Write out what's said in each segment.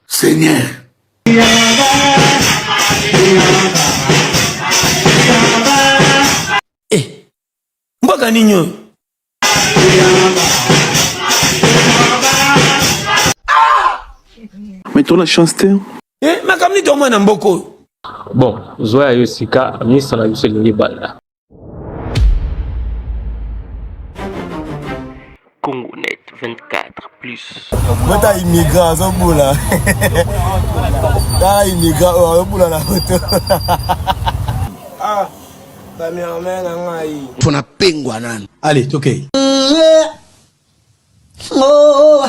Seigneur. Eh, mboka nini oyo? Mais tu as la chance te. Eh, makambo nini tomona na mboka oyo? Bon, zoya yo sika, ministre na biso elingi bala. Congonet 24 plus. Bota immigrant azobola. Tala immigrant oyo azobola na moto. Ah, cameraman na ngai. Mpo na pengwa nani? Allez, tokei. Okay. Oh.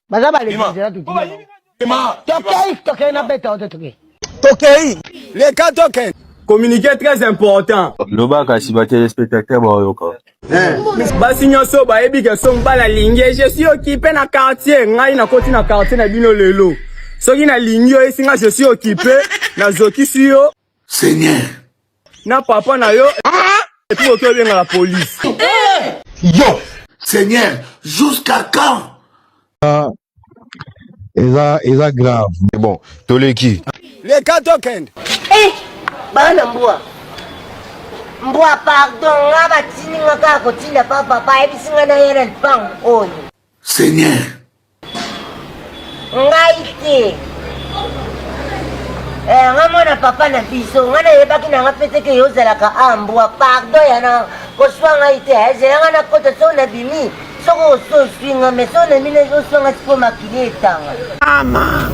baza balekizela tukei tokei na beta ote tokei tokei leka tokei communiqué très important loba kasi ba téléspectateurs baoyoka eh. basi nyonso bayebi ke soki mobali alingi je suis okipe na quartier ngai nakoti na quartier na bino lelo soki nalingi yo esi ngai je suis okipe nazokisi yo Seigneur. Na papa na yo ah! et puis oto benga la police. Yo. Seigneur, jusqu'à quand? Ah, eza eza grave. Mais bon, toleki. Les cas token. Eh, bana mbwa. Mbwa pardon, nga batini nga kaka kotinda pa papa, ayebisi nga na yena lipango oyo. Seigneur. ngai te eh, nga mwana papa na biso nga nayebaki na nga peteke yo ozalaka ambwa pardo yana koswa ngai te ezela eh, nga nakota so na bimi soko ososwi nga me so na mine oswa nga siko makili etanga ama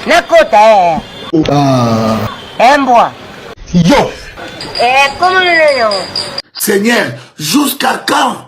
nakota e embwa yo eh, komonona yango seigneur jusqu'à quand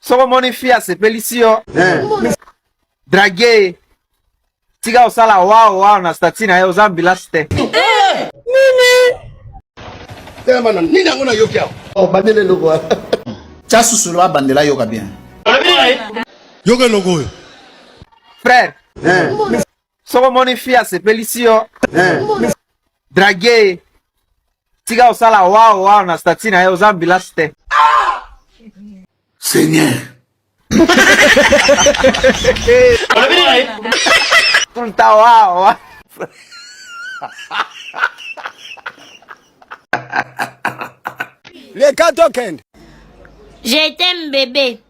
soki omoni fi asepelisi yo eh. drage tika kosala wao wao na stati na ye oza ambilasi te eh. nini telema na nini yango nayoki awa obandeli oh, eloko wana tya susulu abandela yoka bien yoka eloko oyo frère eh. soki omoni fi asepelisi yo eh. drage tika osala wao wao na stati na ye oza ambilasi te seigneur tout le temps wao wao Les quatre Je t'aime bébé.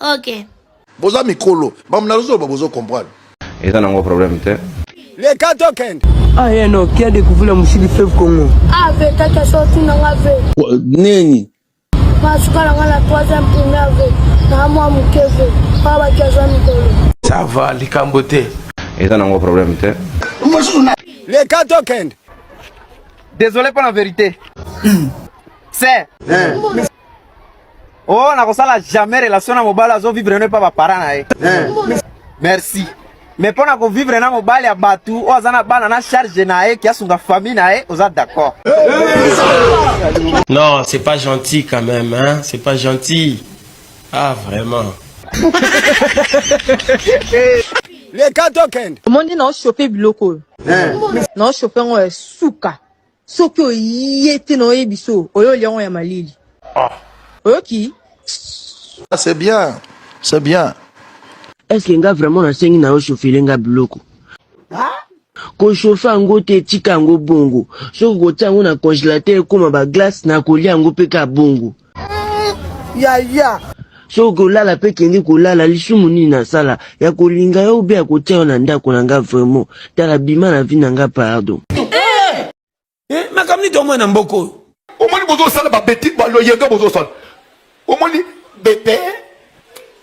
ok boza mikolo bamuna lozoloba bozo comprendre eza nango problème te leka tokende aye ah, no kia découvrir mosili feve congo ave ah, kaka sorti nanga ve nini masuka nanga na troisième primaire ve na mwa moke ve pa baki aza mikolo ça va likambo te eza nango problème te leka tokende désolé mpo na vérité hmm. se eh. Oh, na kosala jamais relation na mobali azo vivre ne pas ba parents na ye. Eh. Merci. Mais pona ko vivre na mobali ya batu oyo aza na bana na charge na ye kiasunga famille na ye oza d'accord. Non, c'est pas gentil quand même hein, c'est pas gentil. Ah vraiment. leka tokende omoni na oshope biloko oyo eh. na oshope yango ya suka soki oye te na oyebiso oyo olia yango ya malili ah. oyoki ah, c'est bien c'est bien est ce que nga vraiment nasengi na yo chofele nga biloko kochauffe yango te etika yango bongo soki kotia yango na congélateur ekóma baglace nakolia yango mpe ka bongo yaya soki kolala mpe kende kolala lisumu nini nasala ya kolinga yo ube ya kotia yo na ndako na nga vraiment tala bima na vi na nga pardon eh! Eh, makambo nini tomoi na mboka oyo omoni bozosala babeti baloyenge bozosala omoni bete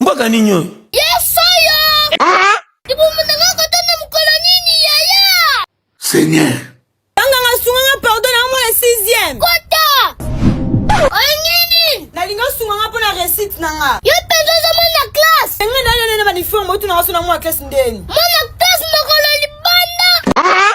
Mboka nini oyo? Yesu oyo. Ah! Libumu na nga kota na mokolo nini yaya? Seigneur. Tanga nga sunga nga pardon na mwana 6e. Kota. Oyo nini? Na linga sunga nga pona recite na nga. Yo penza oza mwana classe. Nga na yo na ba uniforme otu na nga sona mwana classe ndeni. Mwana classe mokolo libanda. Ah!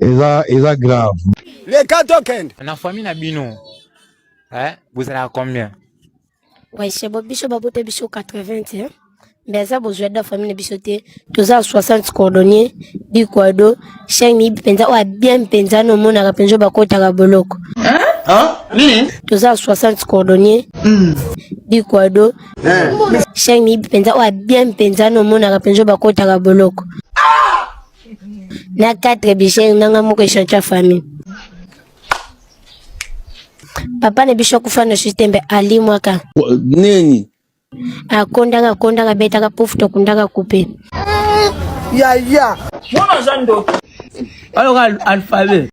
eza eza grave le kato kende na famille na bino eh bozalaka combien waise bo biso babota biso 80 hein? mais eza bozwa da famille na biso te toza 60 cordonnier bikwado cheng miyibi mpenza oyo abien mpenza na omonaka mpenza bakotaka boloko toza 60 cordonnier bikwado Shine miyibi mpenza oyo abien mpenza na omonaka mpenza oyo bakotaka boloko na 4 bishene nanga moko echantion ya famille papa na biso akufa na systeme alimwaka nini akondaka akondaka abetaka pufu tokundaka kupe yaya wana aza ndoki aloka alphabet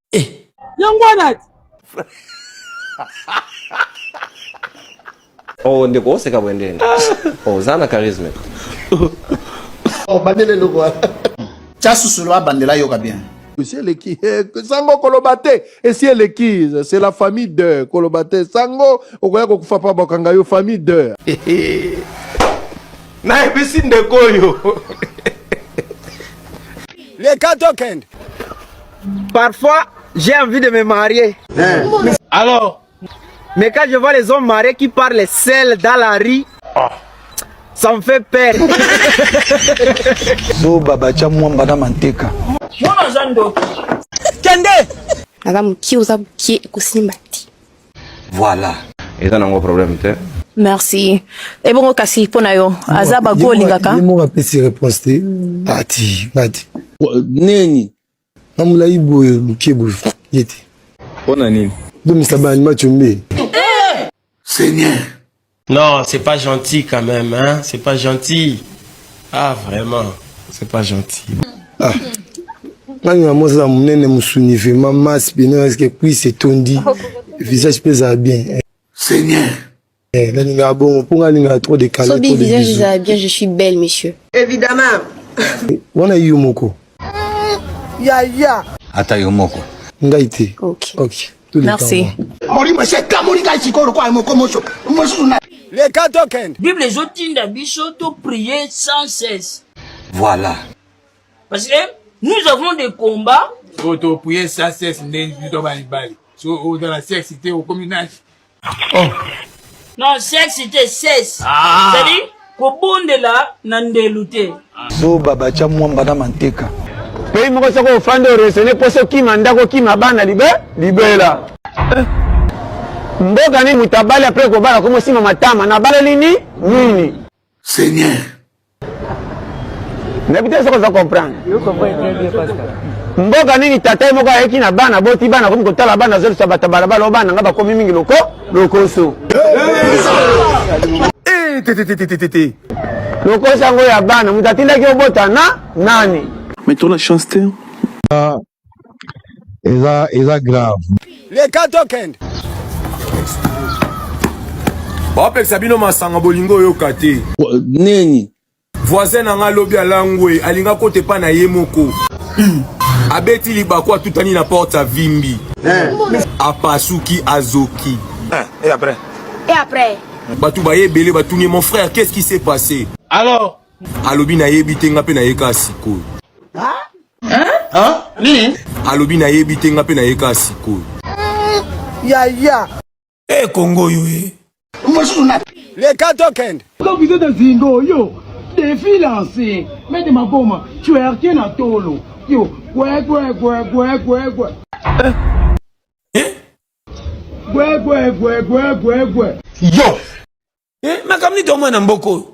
eh. yango wana oh ndeko oseka boye ndeni oh, oza na charisme obandeli eloko wana tya susulu abandela yoka bien esi eleki eh, sango koloba te esi eleki c'est la famille de koloba te sango okoya kokufa pa bakanga yo famille de nayebisi ndeko oyo leka tokende Parfois, j'ai envie de me marier. Eh. Alors Mais quand je vois les hommes mariés qui parlent seuls dans la rue, ah. ça me fait peur. Zo baba cha mwamba na manteka. Mwana za ndoki. Kende. Naza mukie oza mukie ekosimba te. Voilà. Eza nango problème te. Merci. Ebongo kasi mpo na yo aza bago olingaka. Ye moko apesi réponse te. Ati, ngati. Neni? na molai boye moke boye ye te mpo na nini bomisa baanima combe seigneur non c'est pas gentil quand même hein? c'est pas gentil ah vraiment c'est pas gentil ah. nani na mozala monene mosuni vraiment mas bino eske cuise etondi visage mpe ezala bien seigneur Eh, nalinga bongo mpo nga nalinga trop de calme. Sobi visage eza bien, je suis belle monsieur. Évidemment. Eh, wana yo moko. Ya ya. Ata yo moko. Ngai te. OK. OK. Merci. Molimo se kamoli ngai sikoyo lokola moko moso mosusu na le cas token. Bible ezotinda biso to prier sans cesse. Voilà. Parce que nous avons des combats. Oyo to prier sans cesse nde biso to bali bali. So oza na sexe te okomi nani? oh. non sexe te sexe ah. zali kobondela na ndelu te zoba batya mwamba na manteka pei moko soko ofandi oresone mposo okima ndako okima bana libe libela eh. mboka nini moto abali apres kobala komosima matama nabaleli ni nini Seigneur. nayebi te soki oza comprendre mboka nini tata ye moko ayeki na bana boti bana akomi kotala bana azolisa bato balabala o bana nga bakomi mingi loko lokoso eh, lokoso yango ya bana moto atindaki obota na nani mais to la chance te ah, eza eza grave leka tokende baopekisa bino masanga bolingo oyoka te nini voisin na ngai alobi alangwe alinga kote epai na ye moko abeti libaku atutani na porte avimbi eh. apasuki azoki eh, et après et après bato baye ebele batuni mon frère qu'est-ce qui s'est passé alors alobi nayebi te nga mpe nayeka sikoyo Hein? Nini? Alobi na yebi te nga pe na yeka sikoyo. Ya ya. Eh Congo yo eh. Mosusu na le kato kende. Quand vous êtes zingo yo défi lancé mais de ma boma tu as rien à tolo yo gwe gwe gwe gwe gwe gwe. Eh? Gwe gwe gwe gwe gwe gwe. Yo. Eh makamni to mwana mboko.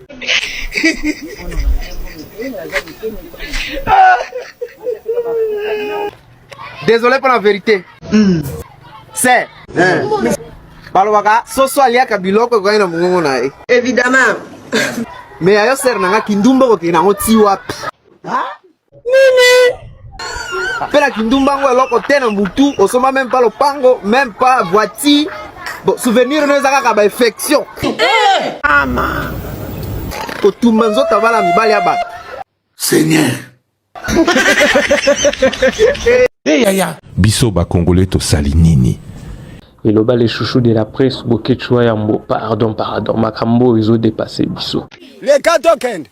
Désolé pour la vérité. Mm. C'est. Eh. balobaka soso aliaka biloko ekokani na mongongo na ye évidemment me ya yo sere na nga kindumba okokende yango ti wapi Nini? Pela kindumba ngo eloko te na mbutu, osomba même pas lopango, même pas voiture. Bon, souvenir no eza kaka ba infection. Eh! Ama. Kotumba nzoto bala mibali ya bato. Seigneur. Eh yaya. Biso ba Congolais tosali nini? eloba le chouchou de la presse boketshu ya mbo pardon pardon makambo oyo ezodepase biso leka tokende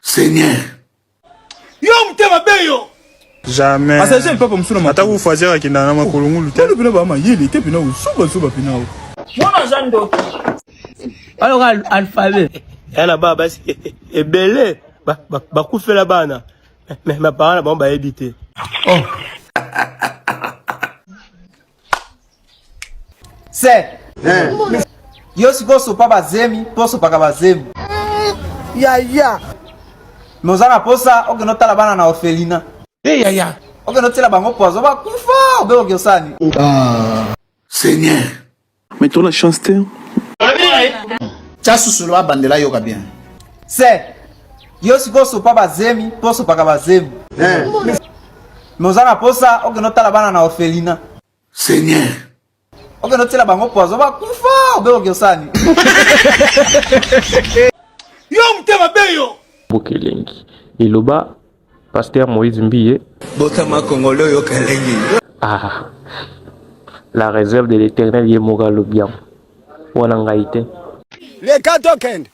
Seigneur. Yo mutema beyo. Jamais. Passager le papa musuna. Ata ku fazer akenda na makolo ngulu te. Bino ba mayele te pina usuba suba pina. Mwana za ndoki. Alors alphabet. Yana ba basi ebele bakufela bana. Mais ma parents ba ba ebite. Oh. se yo sikoyo sopa bazemi mpo osopaka bazemi yaya me oza na mposa okende otala bana na orphelina e yaya okende otyela bango poison bakufa obe oki osani seigneur mais tola chance te tya susulu abandela yoka bien se Yo sikoyo sopa ba zemi mpo osopaka ba zemi. Eh. Me oza na posa okende otala bana na orphelina. Seigneur. Okende otiela bango poison bakufa obe okosani. Yo motema be yo. Boke elengi. Eloba Pasteur Moïse Mbiye. Botama Kongolo yo kelengi. Ah. La réserve de l'éternel ye moko alobi yango. Wana ngai te. Leka tokende.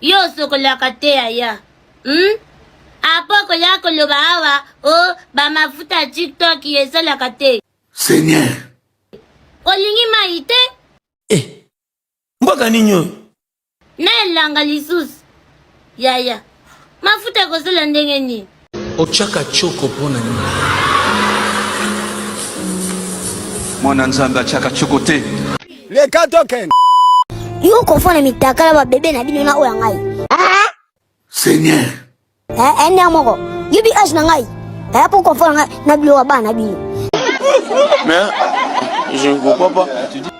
Yo osokolaka te yaya. Hmm? Apo koya koloba awa o oh, ba mafuta ya TikTok esalaka te. Seigneur. Olingi mai te? Eh. Mboka nini oyo? Na elanga lisusu. Yaya. Mafuta ekosala ndenge nini? Otyaka choko mpo na nini? Mwana Nzambe atyaka choko te. Leka token. Yo kofa na mitakala ba bebe na bino na oyo ya ngai. Ah! Seigneur. Eh, eh, ndenge moko. Yo bi age na ngai. Eh, po kofa na ngai na biloko ya bana bino. Mais je ne comprends pas.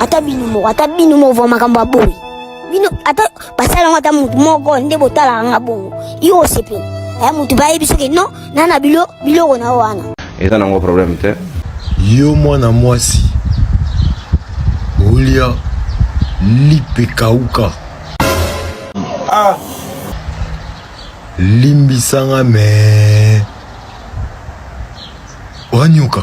ata bino moko ata bino moko va makambo ya boye bino ata basala yango ata motu moko nde botalaka nga bongo yo osepela aya motu bayebi soki no na na bilo biloko na yo wana eza nango problème te yo mwana mwasi olia lipe kauka ah. limbisanga me wanyoka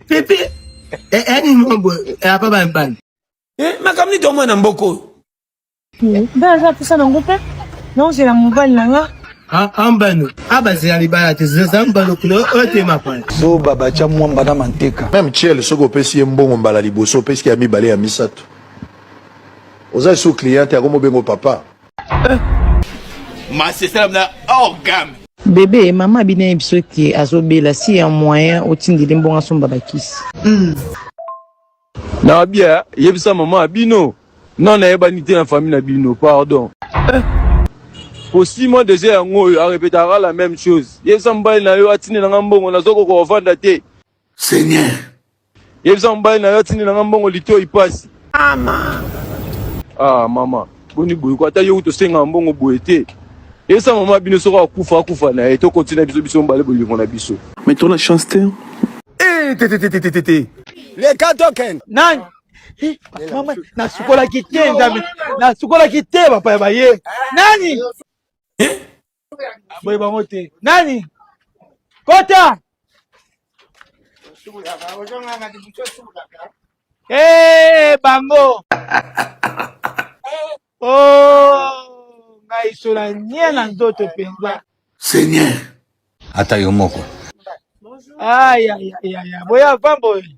pepe eni mombo apa bambani makambo nini tomona na mboka oyo nde aza mposa nango mpe naozela mobali na nga ambano abazela libala te zeza mbano kuna oyo te mapana zoba batya mwamba na manteka meme chiel soki opesi ye mbongo mbala liboso opesi ya mibale ya misato oza lisusu cliente yango mobengo papa Ma sesela mna hors gamme. Bebe, mama abina ye biso ke azobela si ya moyen otindeli mbongo asomba bakisi. Mm. Na bia yebisa mama bino na nayebani te na famille na bino pardon. Eh. Kosima deja yango oyo arepetaka la même chose. Yebisa mobali na yo atindela nga mbongo nazokoka ovanda te. Seigneur Yebisa mobali na yo atindi na nga mbongo litoi pasi. Mama. Ah mama, boni boye ko ata yo tosenga mbongo boye te. Yebisa mama bino soko akufa akufa na ye to continue biso biso mobali bolingo na biso. Mais to na chance te. Eh te te te te te te. Le kato ken. Nani? Eh, mama nasukolaki te nzambe nasukolaki te bapaya baye nani eh? boye bango te nani kota ee eh, bango o oh, ngai sola nie na nzoto mpenza seigneur ata yo moko ayayaya boya vamboye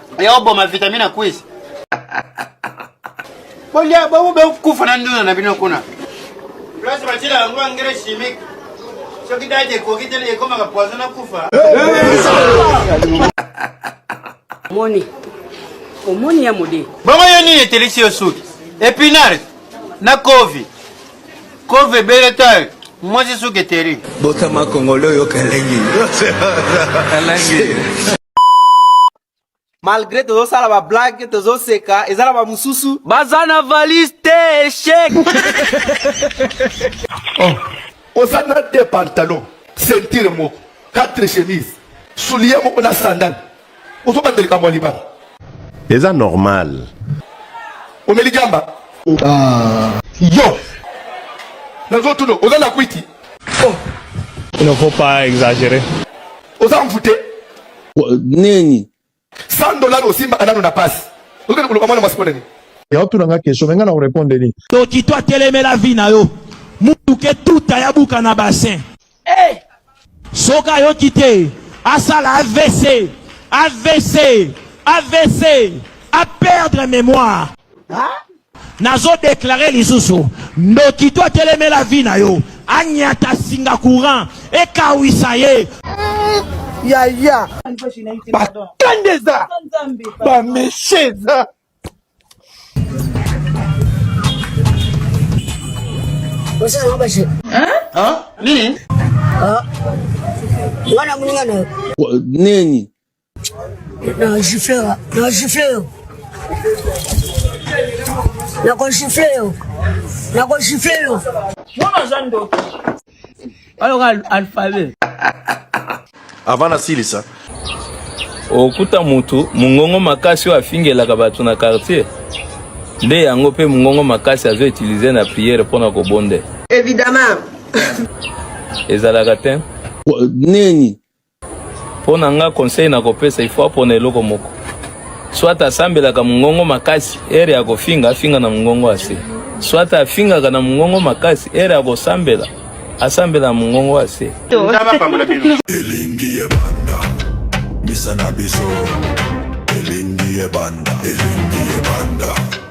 ya oboma vitamine quiz bolia bango bekufa na nduna na bino kuna place batila yango engrais chimique soki date ekoki te ekomaka poison na kufa moni omoni ya mode bongo yo nini etelisi yo suki epinare na kovi kovi ebele tayo mwasi suki eteri botama kongole oyoka elengi malgré tozosala ba blague tozoseka eza na bamosusu baza na valise te echec oh. oza na de pantalon sentire moko quatre chemise soulier moko na sandale ozobanda likambo ya libala eza normal omeli jamba ah. yo nazotuna oza na kwiti oh. il ne faut pas exagérer oza mvute nini 100 dollars osimba anano na pasi okende koloba mwana mwasi mpona nini yaotuna nga question me nga na korepondre nini toki to atelemela vi na yo mutuke tuta ya buka na bassin hey! Eh! soki ayoki te asala avc avc avc a perdre mémoire ah? Nazo declare lisusu ndoki to atelemela vie na yo anyata singa courant ekawisa ye yaya bakende eza bameshe eza nini nini Na gifle yo, na gifle yo. Na ko gifle yo. Na ko gifle yo. Mwana aza ndoki. Aloka alphabet. Avant nasilisa. Okuta mutu mungongo makasi oyo afingelaka bato na quartier nde yango mpe mungongo makasi azo utiliser na priere mpo na kobonde. Evidemment. Ezalaka te. Neni Mpo na nga conseil na kopesa ifo apona eloko moko soit asambelaka mongongo makasi ere ya kofinga afinga na mongongo ase soit afingaka na mongongo makasi ere ya kosambela asambela na mongongo ase elingi ebanda misa na biso elingi ebanda elingi ebanda